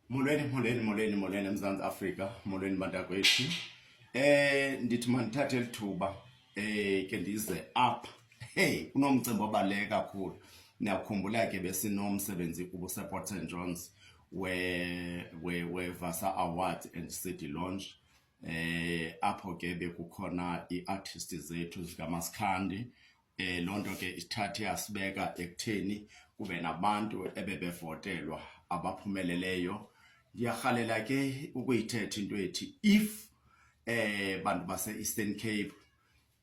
Molweni, molweni, molweni, molweni eMzantsi Afrika, molweni bantakwethu. Eh ndithi mandithathe lithuba eh ke ndize up. Hey, kunomcimbi obaleke kakhulu. Niyakhumbula ke besinomsebenzi kubo Support St John's we we we Vasa Awards and City Launch. Eh apho ke bekukhona iartists zethu zikaMasikhandi Eh loo nto ke isithathe yasibeka ekutheni kube nabantu ebebevotelwa abaphumeleleyo. Ndiyarhalela ke ukuyithetha into ethi if eh bantu base-Eastern Cape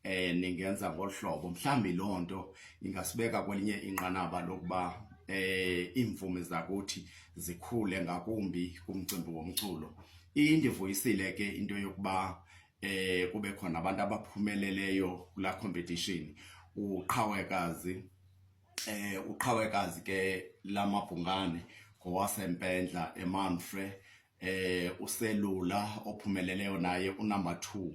eh ningenza ngolu hlobo mhlawumbi loo nto ingasibeka kwelinye inqanaba lokuba eh iimvumi zakuthi zikhule ngakumbi kumcimbi womculo. Indivuyisile ke into yokuba eh kube khona abantu abaphumeleleyo kula competition uqhawekazi eh uqhawekazi ke lamabhungane ngowasempendla emanfre eh uselula ophumeleleyo naye unumber 2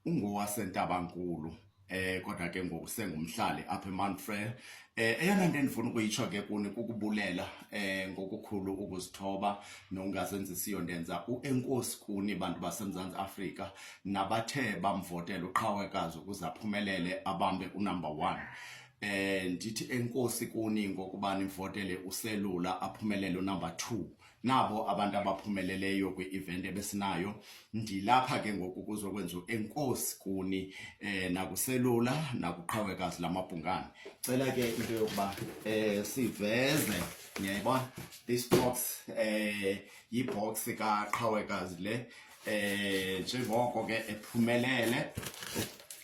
ungowaseNtabankulu eh kodwa ke ngoku sengumhlali apha eManfrey eh eyona nto endifuna ukuyitsho ke kuni kukubulela eh ngokukhulu ukuzithoba nokungazenzisiyo ndenza uenkosi kuni bantu baseMzantsi Afrika nabathe bamvotela uqhawekazi ukuze aphumelele abambe unumber 1 eh ndithi enkosi kuni ngokuba nivotele uselula aphumelele unumber 2 nabo abantu abaphumeleleyo kwi-event ebesinayo ndilapha ke ngoku kuzokwenza enkosi kuni eh nakuselula nakuqhawekazi lamabhungane cela ke into yokuba eh siveze niyayibona this box eh yibox kaqhawekazi le eh njengoko ke ephumelele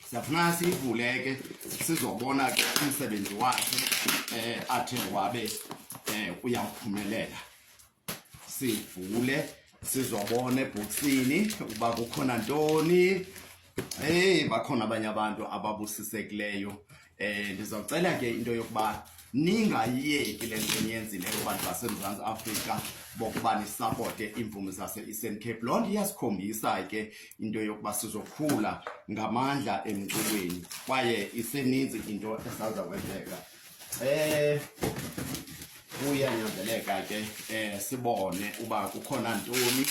siyafunana siyivule ke sizobona ke umsebenzi wakhe eh athe wabe eh uyaphumelela sivule sizobona ebhoksini uba kukhona ntoni Hey, bakhona abanye abantu ababusisekileyo. Eh ndizocela ke into yokuba ningayeki le nto niyenzileyo abantu baseMzantsi Afrika bokuba nisapote iimvumi zase-eastern cape loo nto iyasikhombisa ke into yokuba sizokhula ngamandla emculweni kwaye iseninzi into esawuza kwenzeka eh kuyanyanzeleka ke eh sibone uba kukhona ntoni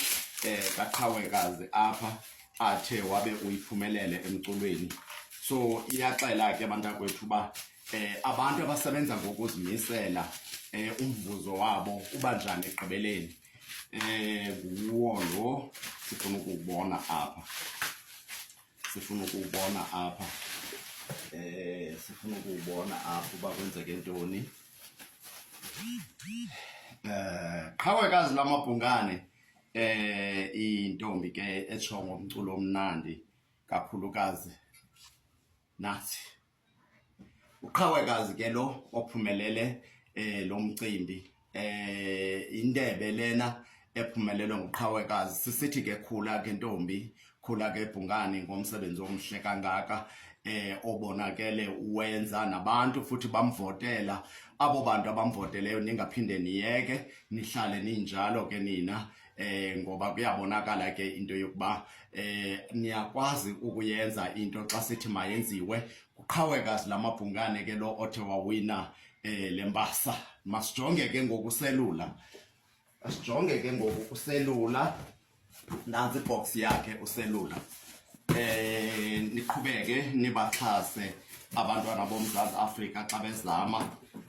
eh kaqhawekazi apha athe wabe uyiphumelele emculweni so iyaxela ke bantakwethu uba eh abantu abasebenza ngokuzimisela eh umvuzo wabo uba njani egqibeleni eh nguwo lo sifuna ukubona apha sifuna ukubona apha eh sifuna ukubona apha uba kwenzeke ntoni eh qhawekazi lamabhungane eh intombi ke etsho ngomculo omnandi kakhulukazi nathi uqhawekazi ke lo ophumelele eh lo mcimbi eh indebe lena ephumelelwe nguqhawekazi sisithi ke khula ke ntombi khula ke bhungani ngomsebenzi omhle kangaka eh obonakele uwenza nabantu futhi bamvotela abo bantu abamvoteleyo ningaphinde niyeke nihlale ninjalo ke nina eh ngoba kuyabonakala ke into yokuba eh niyakwazi ukuyenza into xa sithi mayenziwe kuqhaweka lamabhungane ke lo othe wawina eh lembasa masijonge ke ngokuselula asijonge ke ngoku uselula nantsi ibox yakhe uselula eh niqhubeke nibaxhase abantwana bomzantsi afrika xa bezama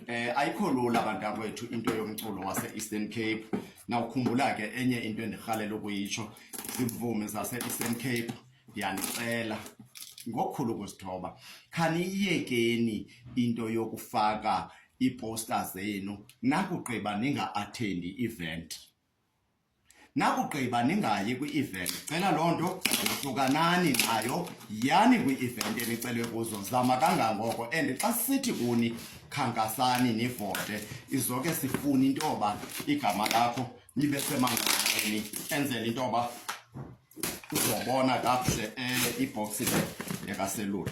eh ayikho lula abantwana kwethu into yomculo wase-eastern cape nawukhumbula ke enye into endirhalela ukuyitsho zimvumi zase-eastern cape ndiyanicela ngokukhulu ukuzithoba khaniyiyekeni into yokufaka iiposta zenu nakugqiba ninga-athendi i-event nakugqiba ningayi kwi-event cela loo nto hlukanani nayo yani kwi-event enicelwe kuzo zama kangangoko and xa sithi kuni khankasani nivote izoke sifune into yoba igama lakho libe semanganeni enzela into yoba uzobona kakuhle um ibhoksi le yakaselula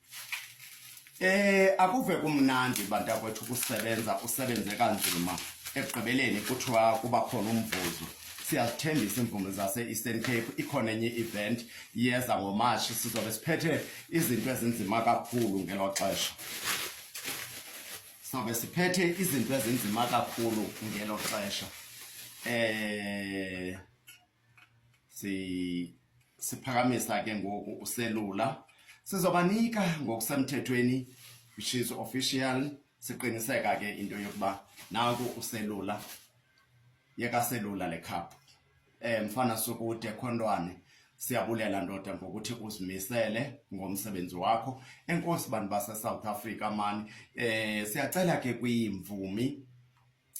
Eh akuve kumnandi bantakwethu ukusebenza usebenze kanzima ekugqibeleni kuthiwa kuba khona umvuzo siyazithembisa iimvumi zase-eastern cape ikhona enye i-event iyeza ngomatshi sizobe siphethe izinto ezinzima kakhulu ngelo xesha sizobe siphethe izinto ezinzima kakhulu ngelo xesha um si siphakamisa ke ngoku uselula sizobanika ngokusemthethweni which is official siqiniseka ke into yokuba naku uselula yekaselula le cup eh mfana sokude khontwane siyabulela ndoda ngokuthi uzimisele ngomsebenzi wakho enkosi bantu base South Africa mani eh siyacela ke kwiimvumi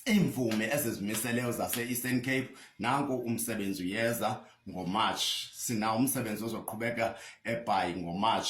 iimvumi ezizimiseleyo zase-eastern cape nanku umsebenzi uyeza ngomarch sinawo umsebenzi ozoqhubeka ebhayi ngomarch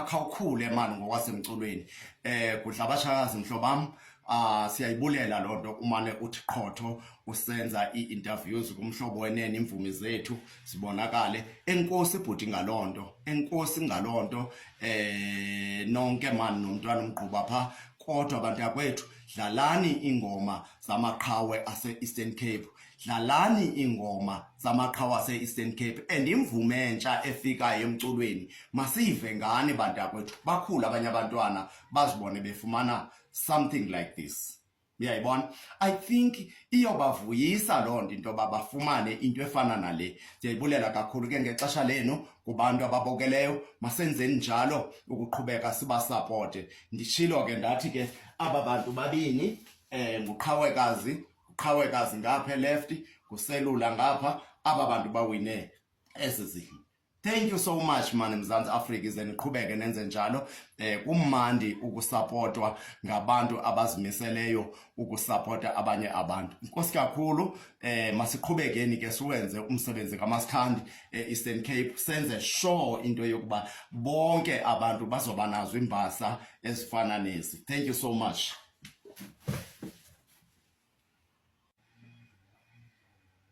khawukhule mani ngokwasemculweni um kudla abashakazi mhlobam Ah siyayibulela lonto umane uthi qhotho usenza iinterviews kumhlobo wenene imvumi zethu sibonakale enkosi bhuti ngaloo nto enkosi ngaloo nto eh nonke mani nomntwana umgquba pha kodwa abantu yakwethu dlalani ingoma zamaqhawe ase-eastern cape dlalani ingoma zamaqhawe ase-eastern cape and imvume entsha efikayo emculweni masiyive ngani bantu yakwethu bakhulu abanye abantwana bazibone befumana something like this uyayibona i think iyobavuyisa loo nto into yoba bafumane into efana nale ndiyayibulela kakhulu ke ngexesha lenu kubantu ababokeleyo masenzeni njalo ukuqhubeka sibasapote nditshilo ke ndathi ke aba bantu babini um nguqhawekazi nguqhawekazi ngapha elefti nguselula ngapha aba bantu bawine ezi zidlo Thank you so much mani Mzantsi Afrika ize niqhubeke nenze njalo eh kumandi ukusapotwa ngabantu abazimiseleyo ukusapota abanye abantu inkosi kakhulu eh masiqhubekeni ke siwenze umsebenzi kaMasikhandi eh, Eastern Cape senze sure into yokuba bonke abantu bazoba nazo imbasa ezifana nezi thank you so much